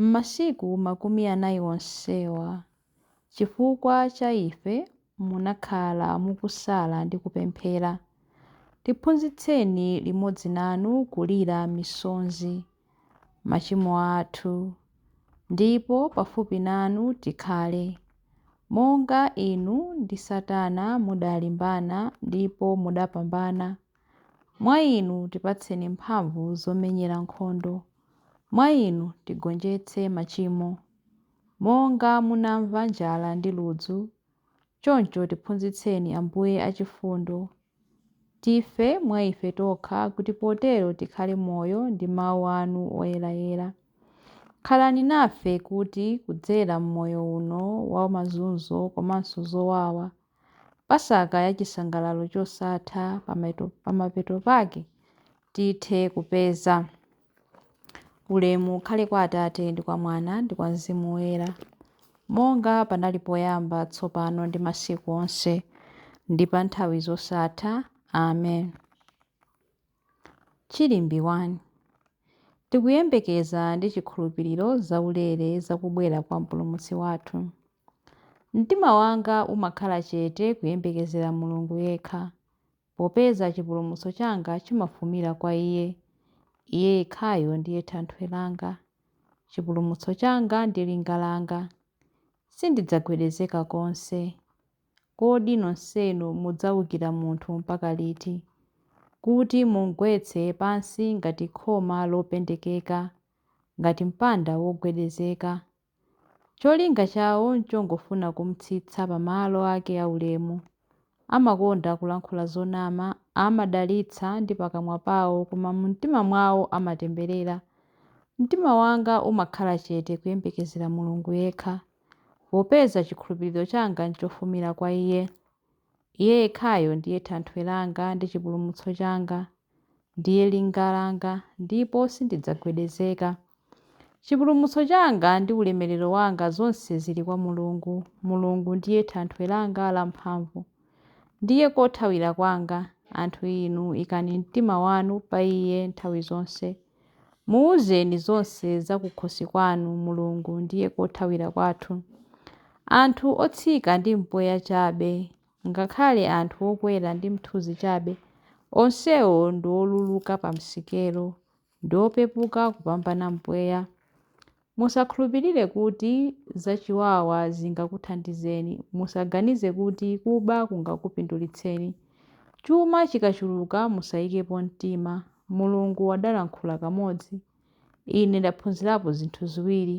M'masiku makumi anayi onsewa, chifukwa cha ife munakhala mukusala ndi kupemphera. Tiphunzitseni limodzi nanu kulira misonzi machimo athu, ndipo pafupi nanu tikhale, monga inu ndi Satana mudalimbana ndipo mudapambana, mwa inu tipatseni mphamvu zomenyera nkhondo. Mwa inu tigonjetse machimo. Monga munamva njala ndi ludzu, choncho tiphunzitseni Ambuye achifundo, tife mwa ife tokha kuti potero tikhale moyo ndi mawu anu oyerayera. Khalani nafe kuti kudzera m'moyo uno wa mazunzo komanso zowawa, Pasaka ya chisangalalo chosatha pamapeto pake tithe kupeza. Ulemu ukhale kwa Atate, ndi kwa Mwana, ndi kwa Mzimu Woyera, monga panali poyamba, tsopano, ndi masiku onse, ndi pa nthawi zosatha. Amen. Chilimbi 1 Tikuyembekeza ndi chikhulupiriro zaulere za kubwera kwa Mpulumutsi wathu. Mtima wanga umakhala chete kuyembekezera Mulungu yekha, popeza chipulumutso changa chimafumira kwa Iye. Iye yekhayo ndiye thanthwe langa, chipulumutso changa ndi linga langa. Sindidzagwedezeka konse. Kodi nonsenu mudzaukira munthu mpaka liti, kuti mumgwetse pansi ngati khoma lopendekeka, ngati mpanda wogwedezeka? Cholinga chawo n'chongofuna kum'tsitsa pamalo ake aulemu. Amakonda kulankhula zonama, amadalitsa ndi pakamwa pawo koma mumtima mwawo amatemberera. Mtima wanga umakhala chete kuyembekezera Mulungu yekha, popeza chikhulupiriro changa n'chofumira kwa iye. Iye yekhayo ndiye thanthwe langa ndi chipulumutso changa, ndiye linga langa, ndipo sindidzagwedezeka. Chipulumutso changa ndi ulemerero wanga zonse zili kwa Mulungu. Mulungu ndiye thanthwe langa lamphamvu. Ndiye kothawira kwanga. Anthu inu ikani mtima wanu pa Iye nthawi zonse. Muwuzeni zonse za kukhosi kwanu, Mulungu ndiye kothawira kwathu. Anthu otsika ndi mpweya chabe, ngakhale anthu okwera ndi mthunzi chabe, onsewo ndi oluluka pa msikelo. ndi opepuka kupambana mpweya. Musakhulupirire kuti zachiwawa zingakuthandizeni. Musaganize kuti kuba kungakupindulitseni. Chuma chikachuluka musaikepo mtima. Mulungu adalankhula kamodzi. Ine ndaphunzirapo zinthu ziwiri.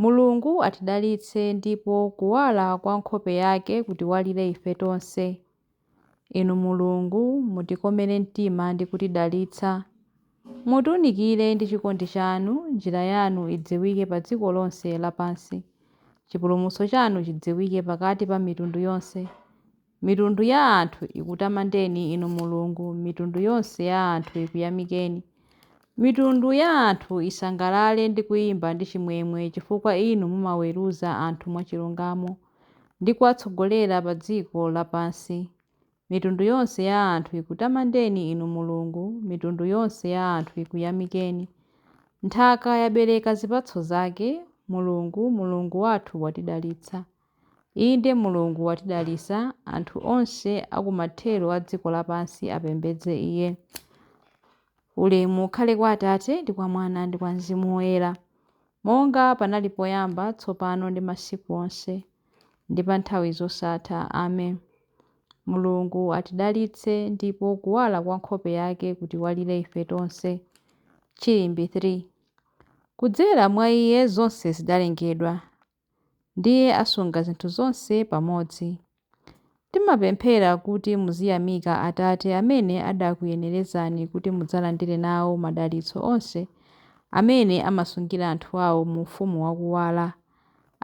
Mulungu atidalitse ndipo kuwala kwa nkhope yake kutiwalire ife tonse. Inu Mulungu, mutikomere mtima ndi kutidalitsa. Mutiunikire ndi chikondi chanu, njira yanu idziwike pa dziko lonse lapansi. Chipulumutso chanu chidziwike pakati pa mitundu yonse. Mitundu ya anthu ikutamandeni, Inu Mulungu, mitundu yonse ya anthu ikuyamikeni. Mitundu ya anthu isangalale ndi kuyimba ndi chimwemwe chifukwa Inu mumaweruza anthu mwachilungamo ndi kuwatsogolera pa dziko lapansi. Mitundu yonse ya anthu ikutamandeni, Inu Mulungu, mitundu yonse ya anthu ikuyamikeni. Nthaka yabereka zipatso zake, Mulungu, Mulungu wathu watidalitsa. Inde, Mulungu watidalitsa, anthu onse a ku mathero a dziko lapansi apembedze Iye. Ulemu ukhale kwa Atate, ndi kwa Mwana, ndi kwa Mzimu Woyera, monga panali poyamba, tsopano, ndi masiku onse, ndi pa nthawi zosatha. Amen. Mulungu atidalitse, ndipo kuwala kwa nkhope yake kutiwalire ife tonse. Chilimbi 3. Kudzera mwa Iye zonse zidalengedwa. ndiye asunga zinthu zonse pamodzi. Timapemphera kuti muziyamika Atate amene adakuyenerezani kuti mudzalandire nawo madalitso onse amene amasungira anthu awo mu ufumu wa kuwala.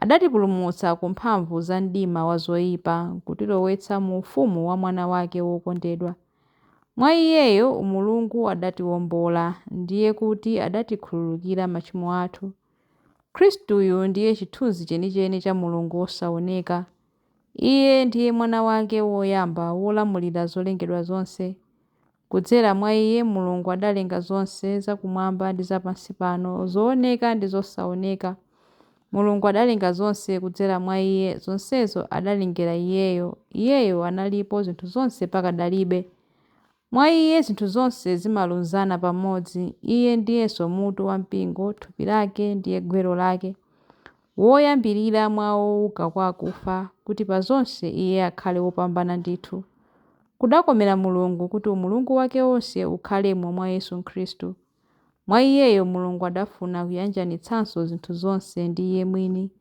Adatipulumutsa ku mphamvu za mdima wa zoipa nkutilowetsa mu ufumu wa Mwana wake wokondedwa. Mwa Iyeyo, Mulungu adatiwombola, ndiye kuti adatikhululukira machimo athu. Khristuyu ndiye chithunzi chenicheni cha Mulungu wosaoneka. Iye ndiye Mwana wake woyamba wolamulira zolengedwa zonse. Kudzera mwa iye Mulungu adalenga zonse zakumwamba ndi zapansipano, zooneka ndi zosaoneka. Mulungu adalenga zonse kudzera mwa iye, zonsezo adalengera iyeyo. Iyeyo analipo zinthu zonse pakadalibe. Mwa Iye zinthu zonse zimalunzana pamodzi, Iye ndiyenso mutu wa mpingo, thupi lake, ndiye gwero lake, woyambirira mwa ouka kwa akufa, kuti pa zonse Iye akhale wopambana ndithu. Kudakomera Mulungu kuti umulungu wake wonse ukhalemo mwa Yesu Khristu. Mwa iyeyo Mulungu adafuna kuyanjanitsanso zinthu zonse ndi Iye mwini,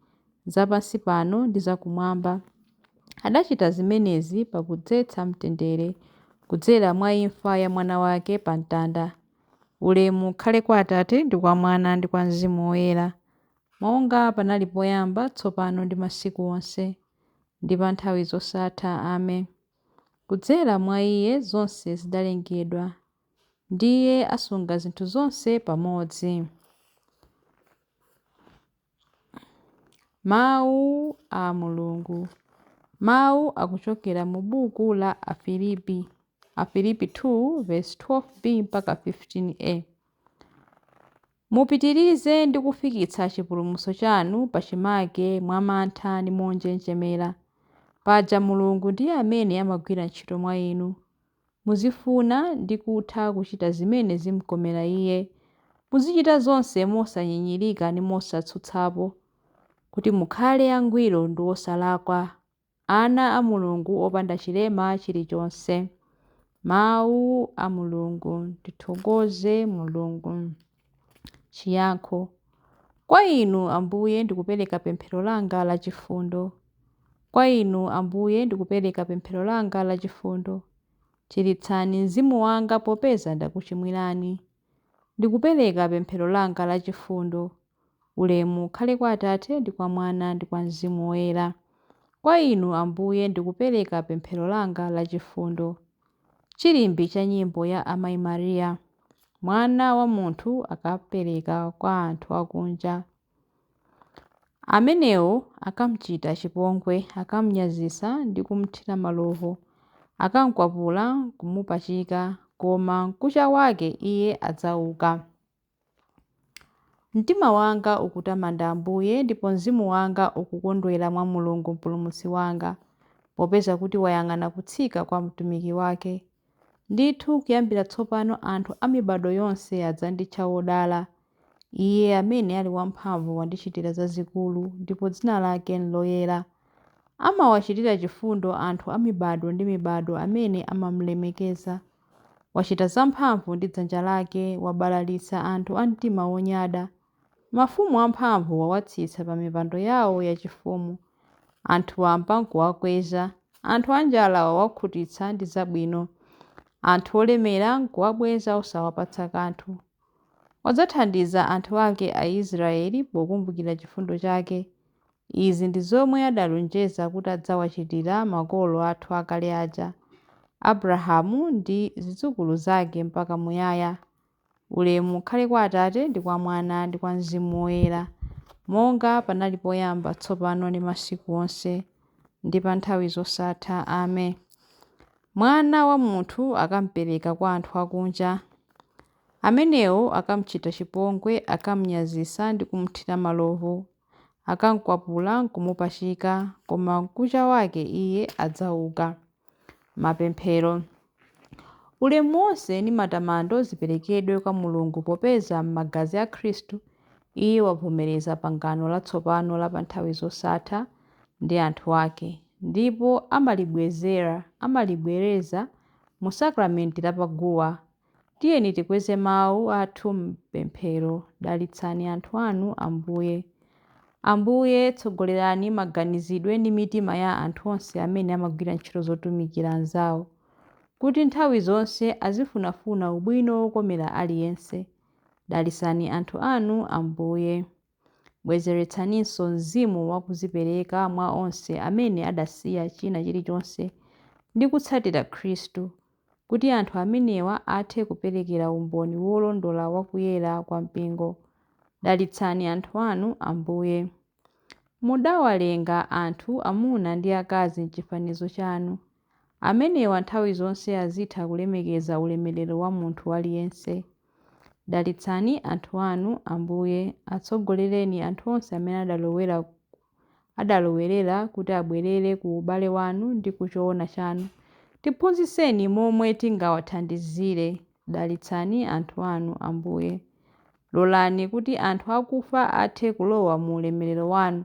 za pansi pano ndi za kumwamba. Adachita zimenezi pakudzetsa mtendere kudzera mwa imfa ya Mwana wake pa mtanda. Ulemu ukhale kwa Atate, ndi kwa Mwana, ndi kwa Mzimu Woyera, monga panali poyamba, tsopano ndi masiku onse, ndi pa nthawi zosatha. Amen. Kudzera mwa Iye zonse zidalengedwa. ndiye asunga zinthu zonse pamodzi. Mawu a Mulungu. Mawu akuchokera mu buku la Afilipi, Afilipi 2 verse 12b mpaka 15a. Mupitirize ndi kufikitsa chipulumutso chanu pachimake mwa mantha ndi monjenjemera. Paja Mulungu ndiye amene amagwira ntchito mwa inu, Muzifuna ndi kutha kuchita zimene zim'komera iye. Muzichita zonse mosanyinyirika ndi mosatsutsapo, kuti mukhale angwiro ndi osalakwa, ana a Mulungu opanda chilema chilichonse. Mawu a Mulungu. Tithokoze Mulungu. Chiyankho Kwa Inu, Ambuye, ndikupereka pemphero langa la chifundo. Kwa Inu, Ambuye, ndikupereka pemphero langa la chifundo. Chiritsani mzimu wanga popeza ndakuchimwirani. Ndikupereka pemphero langa la chifundo. Ulemu ukhale kwa Atate, ndi kwa Mwana, ndi kwa Mzimu Woyera. Kwa Inu, Ambuye, ndikupereka pemphero langa la chifundo. Chilimbi cha nyimbo ya Amai Maria. Mwana wa munthu akapereka kwa anthu akunja. Amenewo akamchita chipongwe, akamnyazitsa ndi kumthira malovu, akamkwapula nkumupachika, koma mkucha wake Iye adzauka. Mtima wanga ukutamanda Ambuye, ndipo mzimu wanga ukukondwera mwa Mulungu Mpulumutsi wanga, popeza kuti wayang'ana kutsika kwa mtumiki wake. Ndithu kuyambira tsopano anthu a mibado yonse adzanditcha wodala. Iye amene ali wamphamvu wandichitira zazikulu, ndipo dzina lake nloyera. Amawachitira chifundo anthu a mibado ndi mibado amene amamlemekeza. Wachita zamphamvu ndi dzanja lake, wabalalitsa anthu a mtima wonyada. Mafumu amphamvu wawatsitsa pa mipando yawo yachifumu. Anthu wamba n'kuwakweza. Anthu anjala wawakhutitsa ndi zabwino. Anthu olemera n'kuwabweza osawapatsa kanthu. Wadzathandiza anthu ake Aisiraeli pokumbukira chifundo chake, Izi ndi zomwe adalonjeza kuti adzawachitira makolo athu akale aja, Abrahamu ndi zidzukulu zake mpaka muyaya. Ulemu ukhale kwa Atate ndi kwa Mwana ndi kwa Mzimu Woyera, monga panali poyamba, tsopano ndi masiku onse, ndi pa nthawi zosatha. Amen. Mwana wa munthu akampereka kwa anthu akunja. Amenewo akamchita chipongwe, akamnyazitsa ndi kumthira malovu. akamkwapula nkumupachika, koma mkucha wake iye adzauka. Mapemphero Ulemu wonse ndi matamando ziperekedwe kwa Mulungu popeza m'magazi a Khristu Iye wavomereza pangano latsopano la pa nthawi zosatha ndi anthu ake, ndipo amalibwezera, amalibwereza, mu sakramenti la pa guwa Tiyeni tikweze mawu athu m'pemphero. Dalitsani anthu anu, Ambuye. Ambuye, tsogolerani maganizidwe ndi mitima ya anthu onse amene amagwira ntchito zotumikira anzawo, kuti nthawi zonse azifunafuna ubwino wokomera aliyense. Dalitsani anthu anu, Ambuye. Bwezeretsaninso mzimu wa kudzipereka mwa onse amene adasiya china chilichonse ndi kutsatira Khristu, kuti anthu amenewa athe kuperekera umboni wolondola wa kuyera kwa Mpingo. Dalitsani anthu anu, Ambuye. Mudawalenga anthu amuna ndi akazi m'chifanizo chanu, Amenewa nthawi zonse azitha kulemekeza ulemerero wa munthu aliyense. Dalitsani anthu anu, Ambuye, atsogolereni anthu onse amene adalowera adalowerera kuti abwerere ku ubale wanu ndi ku choona chanu. Tiphunzitseni momwe tingawathandizire. Dalitsani anthu anu, Ambuye. Lolani kuti anthu akufa athe kulowa mu ulemerero wanu.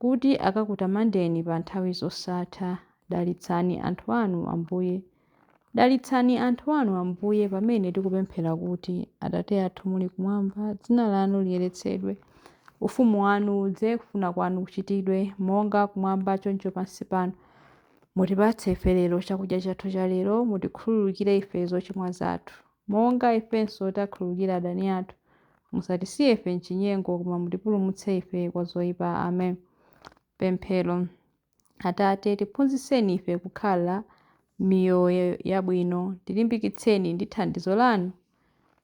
Kuti akakutamandeni pa nthawi zosatha. Dalitsani anthu anu, Ambuye. Dalitsani anthu anu, Ambuye, pamene tikupemphera kuti, Atate athu muli kumwamba, dzina lanu liyeretsedwe. Ufumu wanu udze, kufuna kwanu kuchitidwe, monga kumwamba choncho pansi pano. Mutipatse ife lero chakudya chathu cha lero, mutikhululukire ife zochimwa zathu, monga ifenso takhululukira adani athu. Musatisiye ife m'chinyengo, koma mutipulumutse ife kwa zoipa. Amen. Pemphero. Atate, tiphunzitseni ife kukhala miyoyo yabwino, tilimbikitseni ndi thandizo lanu,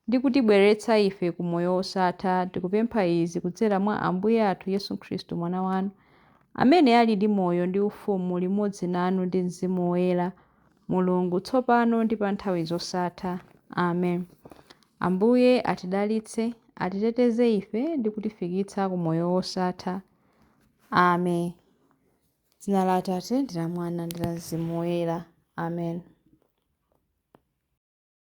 ndi kutibweretsa ife ku moyo wosatha. Tikupempha izi kudzera mwa Ambuye athu Yesu Khristu, Mwana wanu, amene ali ndi moyo ndi ufumu limodzi nanu ndi Mzimu Woyera, Mulungu, tsopano ndi pa nthawi zosatha. Amen. Ambuye atidalitse, atiteteze ife ndi kutifikitsa ku moyo wosatha. Amen. Dzina la Atate ndi la Mwana ndi la Mzimu Woyera. Amen.